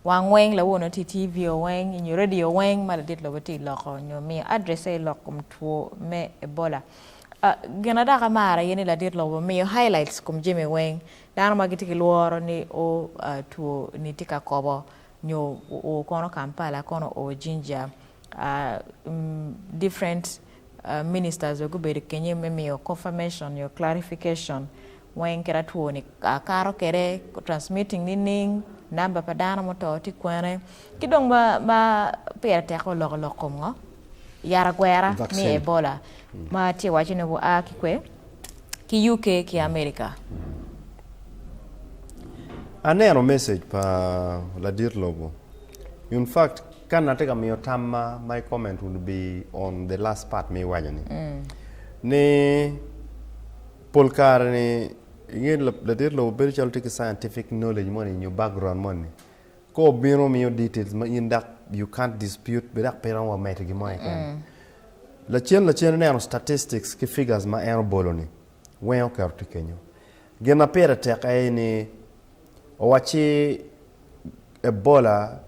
Wang weng, lawono ti TV o weng inyo radio weng ma ladit lobo ti loko nyo miyo address aye lok kom two me Ebola. A, gina dok amaro aye ni ladit lobo miyo highlights kom jami weng dano ma giti ki lworo ni o a, two ni ti ka kobo nyo o kono Kampala kono o Jinja, a, mm, different. Ministers bene gubedo kenyo me miyo confirmation nyo clarification weng kit a two ni kato kwede, transmitting nining, number pa dano ma oto tye kwene, ki dong ma pire tek oloko olok kom ngo? Yat agwera me Vaccine. Ebola ma tye waco ni wa a ki kwe? Ki UK ki America. Aneno message pa ladit lobo. In fact kan atye ka miyo tamma my comment would be on the last part ma iwaco ni. Ni pol kare ni inge ladit lobo bedo calo tye ki scientific knowledge moni nyo background moni. Ka obino miyo details ma in dok you can't dispute be dok pe iromo wa medo gimo keken. Lacen lacen ineno statistics ki figures ma en obolo ni wenge oketo tye kenyo. Gin ma pire tek aye ni, owacci Ebola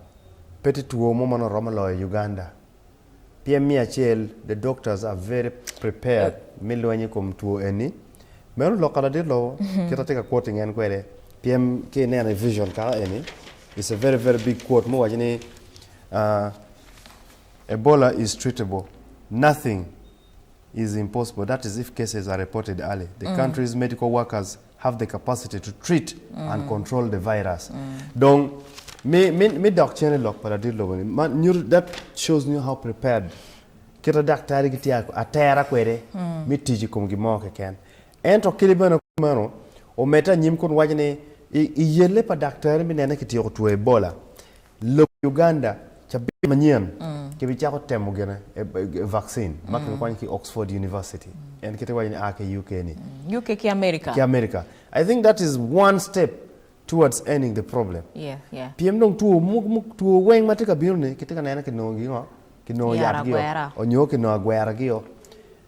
pe tye two mo ma nongo romo loyo Uganda. Pien me acel, the doctors are very prepared me lweny i kom two eni. Meno lok ka ladit lobo, kit atye ka quoting en kwede, pien ki ineno i vision kaka eni, it's a very very big quote ma owaco ni, Ebola is treatable, nothing is impossible that is if cases are reported early the country's medical workers have the capacity to treat and control the virus dong me me me dok cen i lok pa ladit lobo ni man nyuto that shows you how prepared kite daktari gitye a- atera kwede me tic i kom gin mo keken ento kadi bene kop meno omedde anyim kun waco ni i, i yelle pa daktari me nene kityeko two Ebola Lobo Uganda, cabit manyen kibicako temo gine vaccin ma kibikonyo ki Oxford University, en kite iwaco ni a ki UK ni. UK ki America. Ki America. I think that is one step towards ending the problem. Yeah, yeah. Pien dong two two weng matye ka bino ni kitye ka nene kinongo gi ngo? Kinongo yat gi o, onyo kinongo agwera gi o.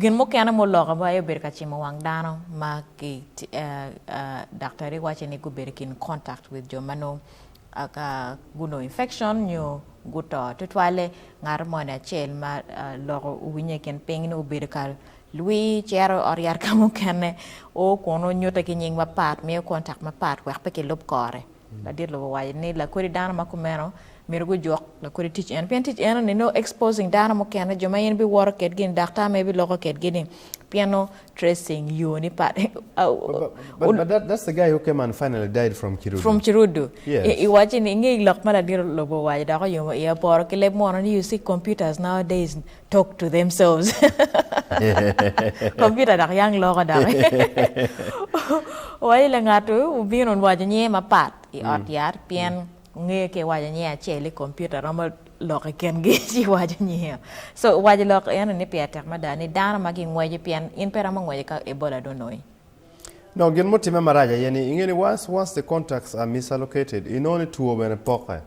Gin mukene ma oloko aye obedo ka cimo wang dano ma daktari waci ni gubedo i kin contact with jo ma nongo gunongo infection nyo guto. Tutwalle ngat moni acel ma loko owinye i kin piny ni obedo ka lwi cito i ot yat ka mukene o kunu nyutte ki nying mapat, miyo contact mapat wek pe kilub kore. Ladit lobo owaco ni lakodi dano ma kumeno myero gujuk lakodi tic eno pien tic eno ni nongo exposing dano mukene jo ma in biwoto kedgi ni daktar mere biloko kedgi ni pien nongo tracing yo ni pat But but that that's the guy who came and finally died from Kirudu. from Kirudu Yes. i waco ni inge lok ma ladit lobo owaco dok oyumo iya poro ki leb munu ni you see computers nowadays Talk to themselves Computer dok yang loko doki Wa ile ngat obino waco nyinge mapat i ot yat pien ongeyo ka iwaco nyinge acel i computer romo lok i kingi ci iwaco nyinge o so waco lok eno ni peya tek mada ni dano ma gingweco pien in pe iromo ngweco ka Ebola dong onongi. Dok gin mutimme marac aye ni inge ni once once the contacts are misalocated inongo ni two bene poke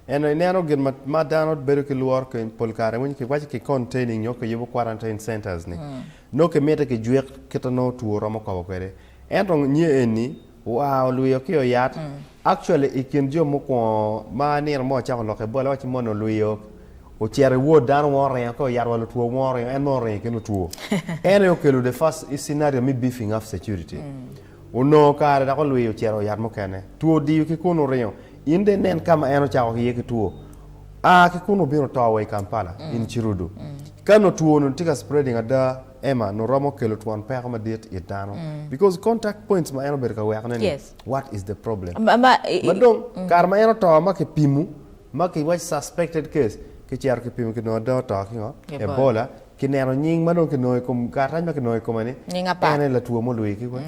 Ento ineno gin ma ma dano bedo ki lworo keny pol kare winy ki waco ki containing nyo ki yubo quarantine centers ni nongo ki mite ki jwik kit a nongo two romo kobo kwede ento nye eni oa olwiyo ki oyat actually i kin jo mukwongo ma nino mo ocako loke bole waco moni olwiyo ocito i ward dano wong oringo ki oyat wa lutwo wong oringo en nongo oringo ki lutwo en aye okelo the first scenario me beefing up security Onongo kare dok olwiyo ocito i yat mukene. Two odiyo ki kun oringo. In dong inen ka ma en ocako iye ki two. A ki kunnu obino oto wa i Kampala, in Cirudu. Ka nongo two-nu tye ka spreading ada, Emma, nongo romo kelo twon peko madit it dano. Because contact points ma en obedo ka wekone-ni, Yes. what is the problem? Ma, ma, i, i, Ma dong, kare ma en oto ma kipimo, ma kiwaco suspected case, kicito kipimo ki nongo ada oto ki ngo? Ebola. Ebola. Kineno nying ma dong kinongo i kom karatac ma kinongo i kome ni, Nying apat. En aye latwo mulwi ki kwe.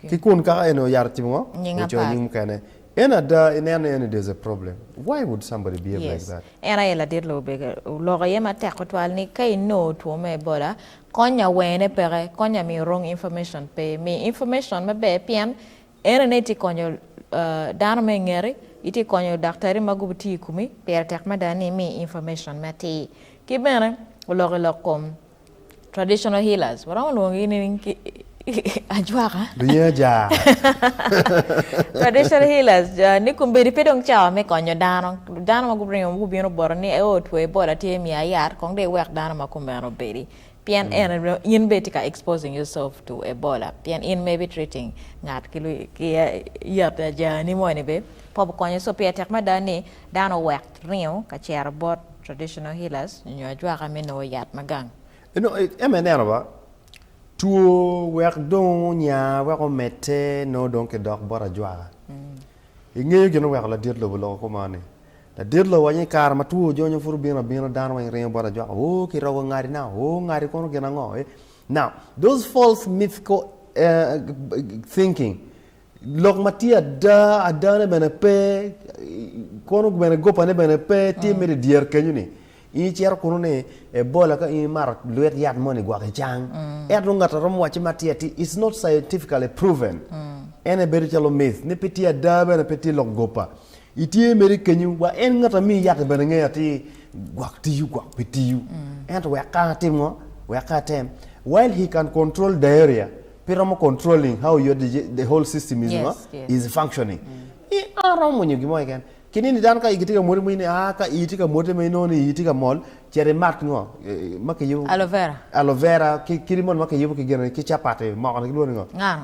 Ki kun kaka en oyaro timo ngo? Nying Ocoyo apat. nying mukene. En ada ineno ni en there's a problem. Why would somebody behave like Yes. that? En aye ladit Lubega. Oloko iye matek tutwal ni ka inongo two me Ebola, konya wene peke, konya miyo wrong information pe. Mi information maber pien En aye itye ka konyo dano ma i ngeti, itye ka konyo daktari ma gubitiyo i komi. Pire tek mada ni imi information me atir. Ki bene oloko ilok kom traditional healers, waromo lwongogi ni ajwaka. Lunye ajaa. Traditional healers ni kombeddi pe dong cawa me konyo dano. Dano ma guringo ma gubino bota ni ee otweye bola tye miya yat kong dong iwek dano ma kumeno obedi. Pien en in bene itye ka exposing yourself to Ebola pien in maybe treating ngat ki ki yat ajani moni bene pe obikonyo so pire tek mada ni dano owek ringo ka cito bot traditional healers nyo ajwaka me nongo yat ma gang. Ento ma ineno ba, two wek dong onya wek omedde nongo dong kidok bot ajwaka. Ingeyo gin oweko ladit lobo loko koma ni Ladit lobo waco ni, Kare ma two ojonyo pud obino abina, dano weng ringo bota jwako, Ooh, kirogo ngati na, ooh, ngati kono gin ango? Eh? Now, those false mythical uh, thinking, lok ma tye ada, adane bene pe, kono bene gopane bene pe, tye mere dyer kenyo ni, in icito kunu ni Ebola ka in imato lwet yat mo ni gwok icang. Ento ngat a romo wacce ma tye atir, it's not scientifically proven. Ene bedo calo myth, ni pe tye ada bene pe tye lok gopa. Itye mere kenyu wa en ngat ami yaki bene ngeyo atir gwok tiyo gwok pe tiyo ento wek ka atim ngo wek ka atem while he can control diarrhea pe romo controlling how your digi- the whole system is ngo Yes, yes. is functioning i a romo mwonyo gin mo keken ki nini dano ka igi tye ka mwoti mo ini aa ka ii tye ka mwoti ma inongo ni ii tye ka mol cet imat ngo eh, ma kiyubo Aloe vera. aloe vera ki kidi moni ma kiyubo ki gin ki capati mokoni kilwongo ni ngo Ngano.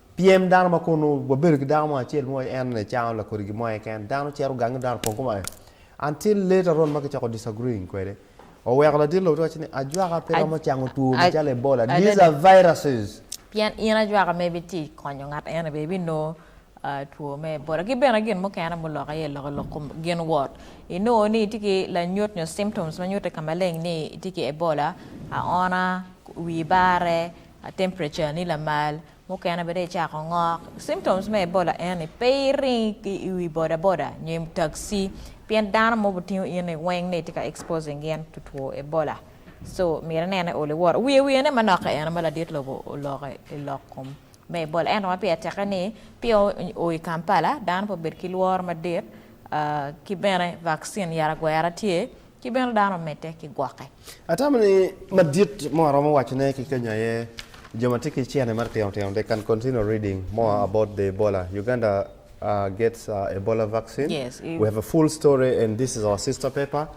Pyem dano ma kunu, wabedo ki dako mo acel mo en aye cano lakodi gin mo aye keken. Dano cito gangi dano opong kome aye. Until later on ma kicako disagreeing kwede, oweko ladit lobo te wacce ni, Ajwaka pe romo cango two macalo Ebola. These are viruses. Pien in ajwaka ma ibitye ka konyo ngat ene bene ibinongo two me Ebola. Ki bene gin mukene mulokke iye lok i lok kom gin wot. Inongo ni itye ki lanyut nyo symptoms ma nyutte ka maleng ni itye ki Ebola, aona, wii bare, A temperature ni lamal, mukene bene icako ngok. Symptoms me Ebola eni pe iring ki i wi bodaboda nyo i taxi pien dano mob otingo in ni weng ni tye ka exposing gin to two Ebola so myero inene ol iwor. Wiye wiye ne manoka eno ma ladit lobo oloko i lok kom me Ebola ento ma pire teke ni pia o i Kampala dano pe obed ki lworo madit ki bene vaccine yara gwera tye ki bene dano omedde ki gwokke. Atamo ni madit mo aromo wacone ki kenyo aye jo ma tye ki cene matitino tino they can continue reading more about the Ebola, Uganda gets Ebola vaccine, Yes, i- we have a full story and this is our sister paper.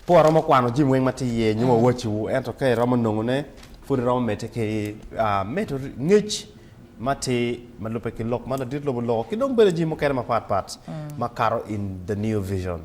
Pe waromo kwano jami weng ma tye iye nyo wawaciwu ento ka iromo nongone pud iromo medde ki medo ngec matir ma lubbe ki lok ma ladit lobo loko ki dong bene jami mukene mapat pat makato in the New Vision.